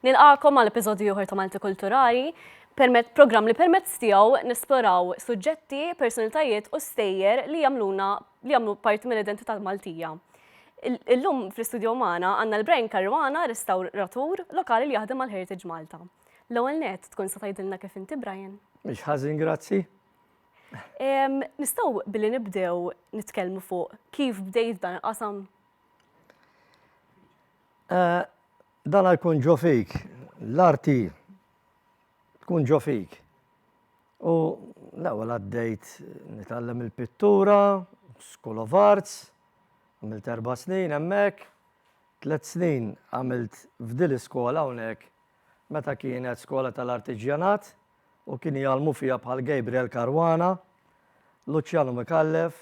Nilqagħkom għal episodju ieħor ta' Malti Kulturali, permezz programm li permezz tiegħu nesploraw suġġetti, personalitajiet u stejjer li jagħmluna li jagħmlu parti mill-identità Maltija. Il- Illum fl-istudju magħna għandna l-Brian Caruana, restawratur lokali li jaħdem mal Heritage Malta. L-ewwel net tkun se tgħidilna kif inti Brian. Mhix ħażin grazzi. Em, Nistgħu billi nibdew nitkellmu fuq kif bdejt dan il-qasam? Eh, dana jkun ġo fik, l-arti tkun ġo fik. U l-ewwel għaddejt nitgħallem il-pittura, School of Arts, għamilt erba' snin hemmhekk, tliet snin għamilt f'dil iskola hawnhekk meta kienet skola tal-artiġjanat u kien jgħalmu fija bħal Gabriel Caruana, Luciano Mikallef,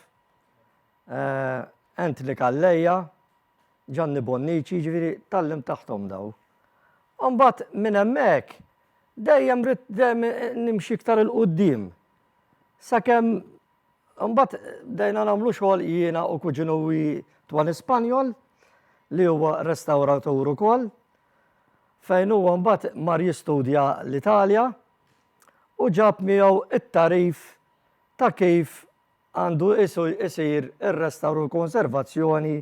eh, Anthony Kalleja, Ġanni Bonnici, jiġifieri tgħallimt taħthom dawn. U mbagħad minn hemmhekk dejjem ridt dejjem nimxi iktar 'il quddiem. Sakemm mbagħad bdejna nagħmlu xogħol jiena u kuġinuwi Twani Spanjol li huwa restawratur ukoll fejn huwa mbagħad mar jistudja l-Italja u ġab miegħu t-tagħrif ta' kif għandu jsir ir-restawr u l-konservazzjoni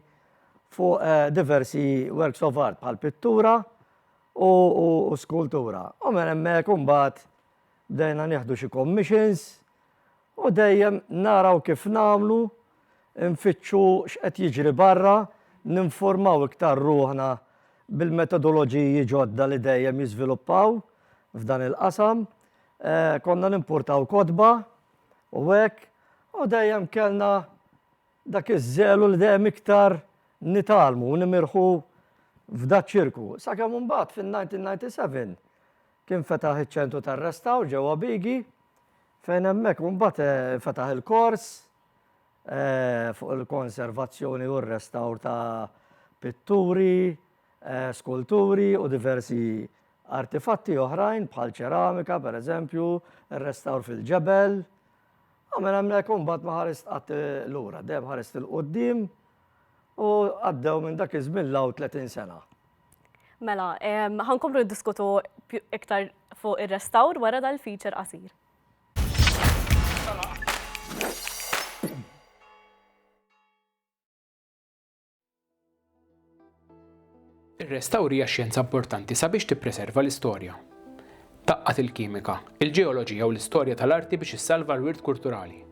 fuq diversi works of art bħal pittura u skultura. U minn hemmhekk imbagħad bdejna nieħdu xi commissions u dejjem naraw kif nagħmlu, nfittxu x'qed jiġri barra, ninformaw iktar ruħna bil-metodoloġiji ġodda li dejjem jiżviluppaw f'dan il-qasam. Konna nimportaw kotba u hekk, u dejjem kellna dak iż-żelu li dejjem iktar nitgħallmu u nimirħu f'daċ-ċirku. Sakemm imbagħad fin-1997 kien fetaħ iċ-Ċentru tar-Restawr ġewwa Bigi fejn hemmhekk imbagħad fetaħ il-kors fuq il-konservazzjoni u r-restawr ta' pitturi, skulturi u diversi artifatti oħrajn bħal ċeramika, per eżempju, restawr fil-ġebel. Għamel hemmhekk u mbagħad ma ħarist qatt lura, dejjem ħarist il-qudiem u għaddew minn dak iż-żmien law 30 sena. Mela, ħankomplu diskutu iktar fuq ir-restawr wara dal-feature qasir. Ir-restawr hija xjenza importanti sabiex tippreserva l-istorja. Tgħaqqad il-kimika, il-ġeoloġija u l-istorja tal-arti biex issalva l-wirt kulturali.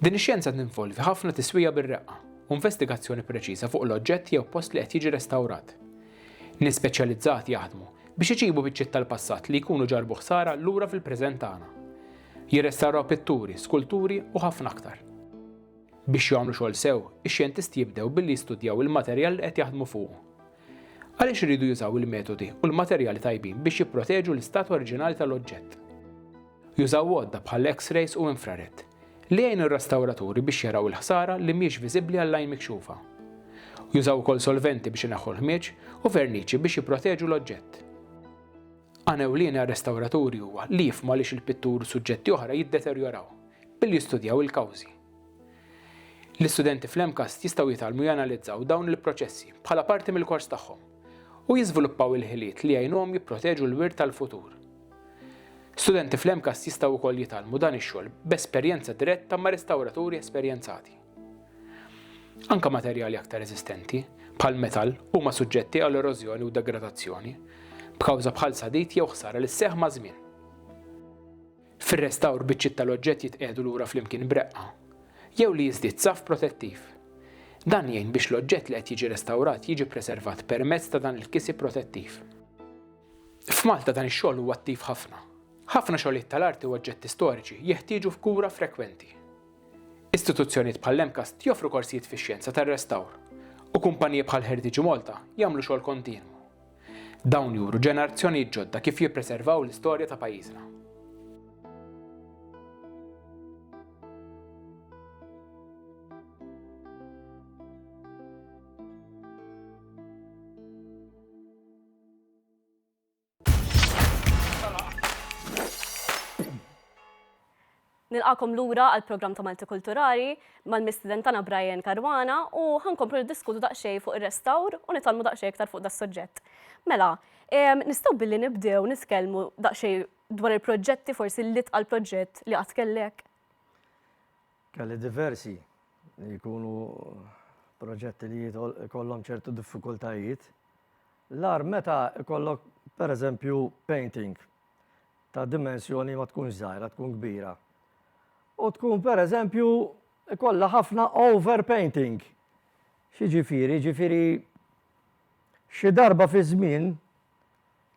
Din ix-xjenza tinvolvi ħafna tiswija bir-reqqa u investigazzjoni preċiża fuq l-oġġett jew post li qed jiġi restawrat. Nies speċjalizzati jaħdmu biex iġibu biċċiet tal-passat li jkunu ġarbu ħsara lura fil-preżent tagħna. Jirrestawraw pitturi, skulturi u ħafna aktar. Biex jagħmlu xogħol sew, ix-xjentisti jibdew billi jistudjaw il-materjal li qed jaħdmu fuqu. Għaliex iridu jużaw il-metodi u l-materjali tajbin biex jipproteġu l-istat oriġinali tal-oġġett? Jużaw għodda bħal X-rays u infrared li jgħinu r-restawraturi biex jaraw il-ħsara li mhijiex viżibbli għall-għajn mikxufa. Jużaw ukoll solventi biex ineħħu l-ħmieġ u verniċi biex jipproteġu l-oġġett. Għan ewlieni għar-restawraturi huwa li jifhmu għaliex il-pittur u suġġetti oħra jiddeterjoraw, billi jistudjaw il-kawżi. L-istudenti fl-MCAST jistgħu jitgħallmu janalizzaw dawn il-proċessi bħala parti mill-kors tagħhom u jiżviluppaw il-ħiliet li jgħinuhom jipproteġu l-wirt tal-futur. Studenti fl-MCAST jistgħu wkoll jitgħallmu dan ix-xogħol b'esperjenza diretta ma' restawraturi esperjenzati. Anke materjali aktar reżistenti, bħall-metall, huma suġġetti għal erożjoni u degradazzjoni, b'kawża bħal sadid jew ħsara li sseħħ maż-żmien. Fir-restawr biċċiet tal-oġġett jitqiegħdu lura flimkien b'reqqa, jew li jiżdied saff protettiv. Dan jgħin biex l-oġġett li qed jiġi restawrat jiġi ppreservat permezz ta' dan il-kisi protettiv. F'Malta dan ix-xogħol huwa attiv ħafna. Ħafna xogħlijiet tal-arti u oġġetti storiċi jeħtieġu f'kura frekwenti. Istituzzjonijiet bħall-MCAST joffru korsijiet fix-xjenza tar-restawr, u kumpaniji bħal Heritage Malta jagħmlu xogħol kontinwu. Dawn juru ġenerazzjonijiet ġodda kif jippreservaw l-istorja ta' pajjiżna. Nilqakom lura għal programm ta' Malti Kulturali mal-mistiden tagħna Brian Karwana u ħankomplu niddiskutu daqsxejn fuq ir-restawr u nitalmu daqsxejn iktar fuq das-suġġett. Mela, nistgħu billi nibdew nitkellmu daqsxejn dwar il-proġetti forsi li tqal proġett li qatt kellek? Kelli diversi li jkunu proġetti li kollhom ċertu diffikultajiet L-agħar meta jkollok, pereżempju, painting ta' dimensjoni ma tkunx żgħira, tkun kbira. U tkun pereżempju ikollha ħafna overpainting. X'jiġifieri? Jiġifieri xi darba fiż-żmien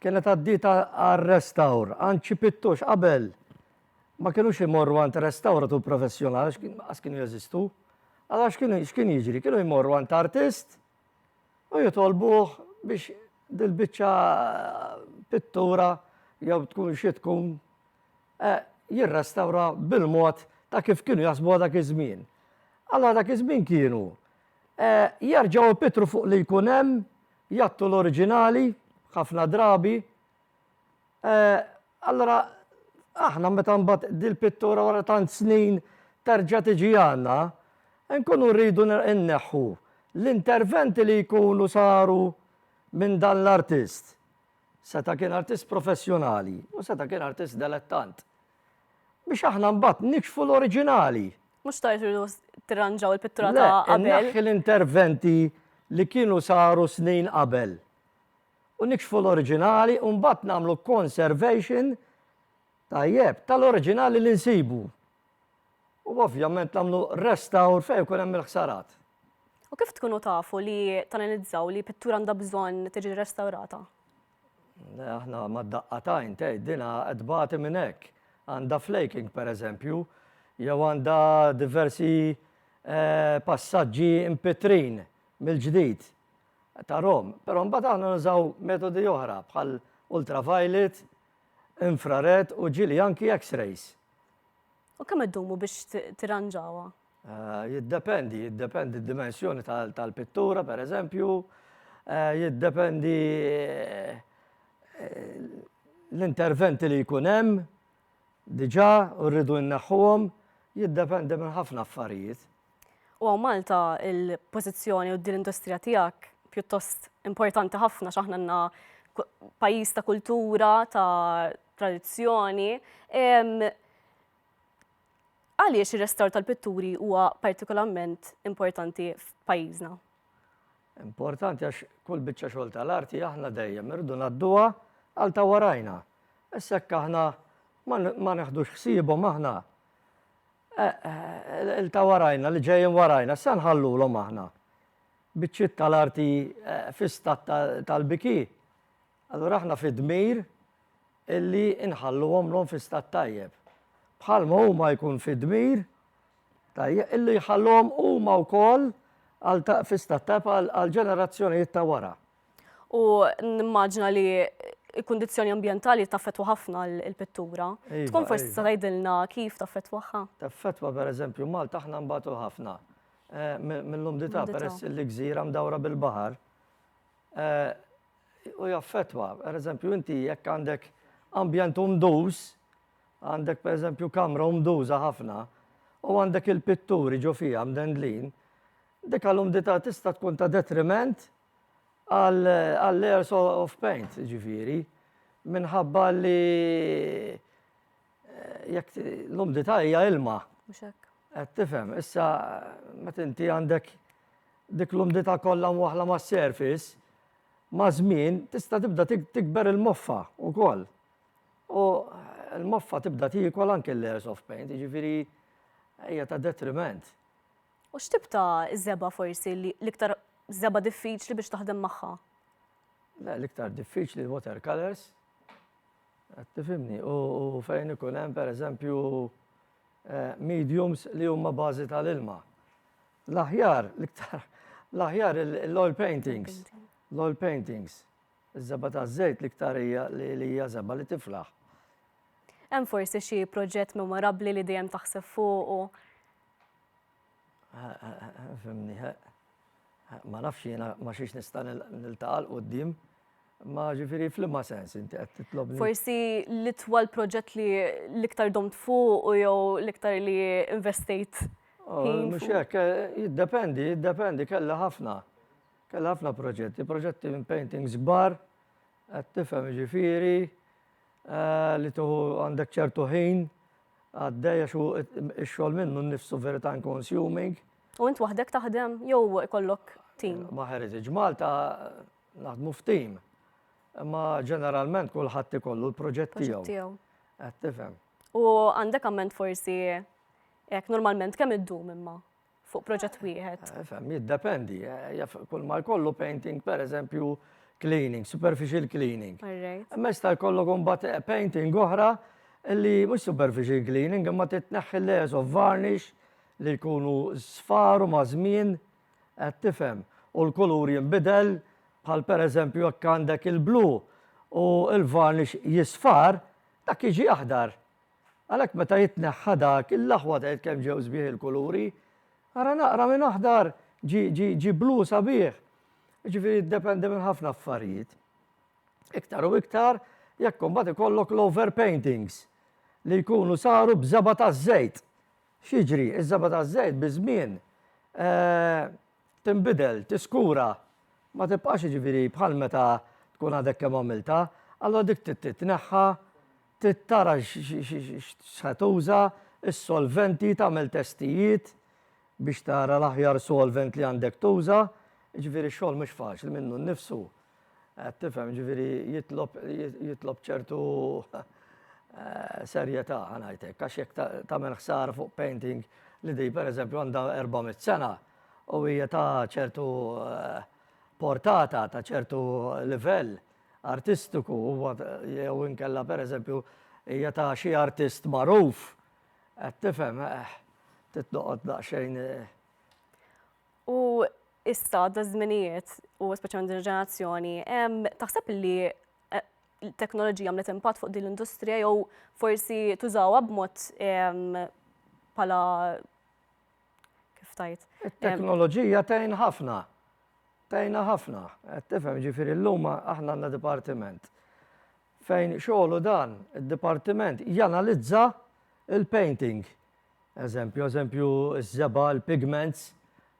kienet għaddietha għar-restawr, għand xi pittux qabel ma kinux imorru għand restawratur professjonali għax kienu jeżistu. Allura x'kien jiġri? Kienu jmorru għand artist, u jitolbuh biex dil-biċċa pittura jew tkun xi tkun jirrestawra bil-mod ta' kif kienu jaħsbuha dak iż-żmien. Allura dak iż-żmien kienu jerġgħu jpittru fuq li jkun hemm, jgħattu l-oriġinali ħafna drabi, Allura aħna meta mbagħad dil-pittura wara tant snin terġa' tiġi għandna, inkunu rridu nneħħu l-interventi li jkunu saru minn dan l-artist. Seta' kien artist professjonali u seta' kien artist delettant. Biex aħna mbagħad nikxfu l-oriġinali. Mhux ta' irridu tirranġaw il-pittura ta' qabel. Le, inneħħi l-interventi li kienu saru snin qabel. u nikxfu l-oriġinali u mbagħad nagħmlu conservation tajjeb tal-oriġinali li nsibu u ovvjament nagħmlu restawr fejn ikun hemm il-ħsarat. U kif tkunu tafu li tanalizzaw li pittura għandha bżonn tiġi restawrata? Aħna ma daqqatajn tgħidilha qed bagħti minn hekk. Għandha flaking pereżempju, jew għandha diversi eh, passaġġi mpitrin mill-ġdid. ta' Rom, però mbagħad aħna nużaw metodi oħra bħal ultraviolet, infrared u ġieli anki X-rays. U kemm iddumu biex tirranġawha? Eh, jiddependi, jiddependi d-dimensjoni tal-pittura, per eżempju, eh, jiddependi eh, l-interventi li jkun hemm, diġà u rridu jneħħuhom jiddependi minn ħafna affarijiet. U hawn Malta il-pożizzjoni u din l-industrija tiegħek pjuttost importanti ħafna x'aħna għandna pajjiż ta' kultura, ta' tradizzjoni. Għaliex ir-restawr tal-pitturi huwa partikolarment importanti f'pajjiżna? Importanti għax kull biċċa xogħol tal-arti aħna dejjem irridu ngħadduha għal ta' warajna. Issa hekk aħna ma neħdux ħsiebhom aħna il ta' warajna li ġejjin warajna, issa nħallulhom aħna. Biċċiet tal-arti fi stat tal-biki, allura aħna fid-dmir illi nħalluhom l-hom fi stat tajjeb. Bħalma huma jkun fid-dmir tajjeb illi jħalluhom huma wkoll fi stat tajjeb għal ġenerazzjonijiet ta' wara. U nimmaġina li il-kondizjoni ambientali taffetwa ħafna l-pittura. Iva, Tkun forsi iva. tgħidilna kif taffetwaha? Taffetwa per eżempju Malta aħna mbagħtu ħafna eh, mill-umdità peress li gżira mdawra bil-baħar. Eh, u jaffettwa. Per eżempju, inti jekk għandek ambjent umduż, għandek per eżempju kamra umduża ħafna, u għandek il-pitturi ġo fiha mdendlin, dik għall-umdità tista' tkun ta' detriment għall-layers of paint, ġifieri, minħabba li Jekk l-umdità hija ilma. Mhux hekk. Qed tifhem, issa meta inti għandek dik l-umdità kollha mwaħla mas-surface, ma' żmien tista' tibda tikber il-moffa wkoll. U l-moffa tibda tiekol anke l-layers of paint, jiġifieri hija ta' detriment. U x'tip ta' żebgħa forsi l-iktar żebgħa diffiċli biex taħdem magħha? Le, l-iktar diffiċli l-watercolors. Qed tifhimni? U fejn ikun hemm, pereżempju, mediums li huma bażi tal-ilma. L-aħjar, l-iktar, l-aħjar l-oil paintings, l-oil paintings, iż-żebgħa taż-żejt l-iktar hija li hija żebgħa li tiflaħ. Hemm forsi xi proġett memorabbli li dejjem taħseb fuqu? Fimni, ma nafx jiena ma xiex nista' niltaqa' l-qoddim. Ma ġifiri fl-imma sens inti qed titlobni. Forsi l-itwal proġett li l-iktar domt fuq u jew l-iktar li investejt. Oh, mhux hekk, eh, jiddependi, jiddependi, kellha ħafna. Kellha ħafna proġetti, proġetti minn paintings kbar, qed tifhem ġifiri, eh, li tuħu għandek ċertu ħin Għaddej għax hu x-xogħol minnu nnifsu very time consuming. U int waħdek taħdem jew ikollok tim? Ma' Heritage Malta naħdmu f'tim. Imma ġeneralment kulħadd ikollu l-proġett tiegħu. Qed tifhem. U għandek amment forsi hekk normalment kemm iddum imma? fuq proġett wieħed? Eh, fem, jiddependi. Eh, kull ma jkollu painting, per eżempju, cleaning, superficial cleaning. Mess ta' jkollu kumbat eh, painting oħra li mhux superficial cleaning, imma titneħħi layers of varnish li jkunu sfaru ma' żmien qed tifhem u l-kulur jinbidel bħal per eżempju jekk għandek il-blu u l-varnish jisfar dak jiġi aħdar. Għalhekk meta jitneħħa dak, il-laħwa tgħid kemm ġew sbieħ il-kuluri. Ara naqra minn aħdar ġi ġi ġi blu sabiħ. Ġifieri jiddependi minn ħafna affarijiet. Iktar u iktar jekk imbagħad ikollok l-overpaintings li jkunu saru b'żeba' taż-żejt. X'jiġri? Iż-żeba' taż-żejt biż-żmien tinbidel, tiskura, ma tibqax jiġifieri bħal meta tkun għadek kemm għamiltha, allura dik trid titneħħa. Trid tara x'se tuża, is-solventi, tagħmel testijiet biex tara l-aħjar solvent li għandek tuża. Jiġifieri x-xogħol mhux faċli minnu nnifsu. Qed tifhem, jiġifieri jitlob jitlob ċertu serjetà ħa ngħid hekk għax jekk tagħmel ħsara fuq painting li din pereżempju għandha 400 sena u hija ta' ċertu portata, ta' ċertu livell, artistiku huwa jew inkella pereżempju hija ta' xi artist magħruf, qed tifhem, eh, trid noqgħod daqsxejn eh, U issa da żminijiet u speċjalment din il-ġenerazzjoni, em, taħseb li eh, l-teknoloġija għamlet impatt fuq din l-industrija jew forsi tużawha b'mod em, pala kif tajt. It-teknoloġija tgħin ħafna. Tgħinna ħafna. Qed tifhem, jiġifieri llum aħna għandna dipartiment fejn xogħlu dan, id-dipartiment janalizza l-painting. Eżempju, eżempju, ż-żebgħa, l-pigments,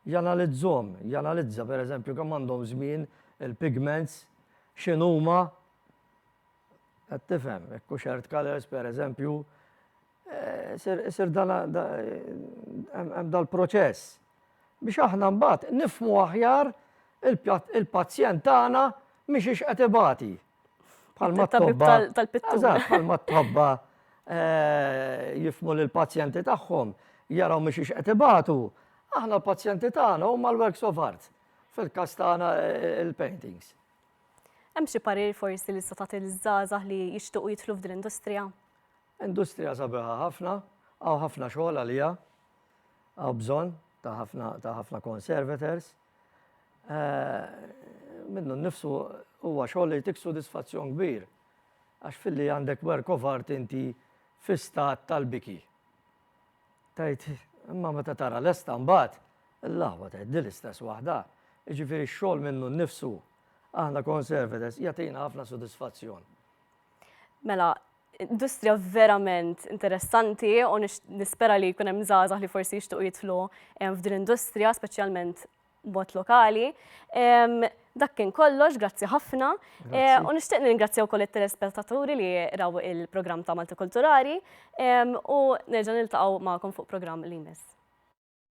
janalizzhom, janalizza pereżempju kemm għandhom żmien il-pigments, x'inhuma, qed tifhem, hekk hux earth colors pereżempju, Isir hemm dal-proċess biex aħna mbagħad nifhmu aħjar il-pazjent tagħna mixiex qed ibati. Bħalma t-tobba tal-pittura. Bħalma t-tobba jifhmu lill-pazjenti tagħhom jaraw mixiex qed ibatu, aħna l-pazjenti tagħna huma l-works of art fil-każ tagħna il-paintings. Hemm xi parir forsi li tista' tagħti liż-żgħażagħ li jixtiequ jidħlu f'din l-industrija? Industrija sabiħa ħafna, hawn ħafna xogħol għaliha, hawn bżonn ta' ħafna ta' ħafna conservators. Minnu nnifsu huwa xogħol li jtik sodisfazzjon kbir għax filli għandek work of art inti fi stat tal-biki. Tgħid imma meta tara lesta mbagħad l-aħwa tgħid din l-istess waħda. Jiġifieri x-xogħol minnu nnifsu aħna conservators jagħtina ħafna sodisfazzjon. Mela, industrija verament interessanti u nispera li jkun hemm żgħażagħ li forsi jixtuq jidħlu f'din industrija, speċjalment bot lokali. Dak kien kollox, grazzi ħafna. U nixtieq ningrazzja wkoll it-telespettaturi li raw il-programm ta' Malti Kulturali u nerġa' niltaqgħu magħkom fuq programm li jmiss.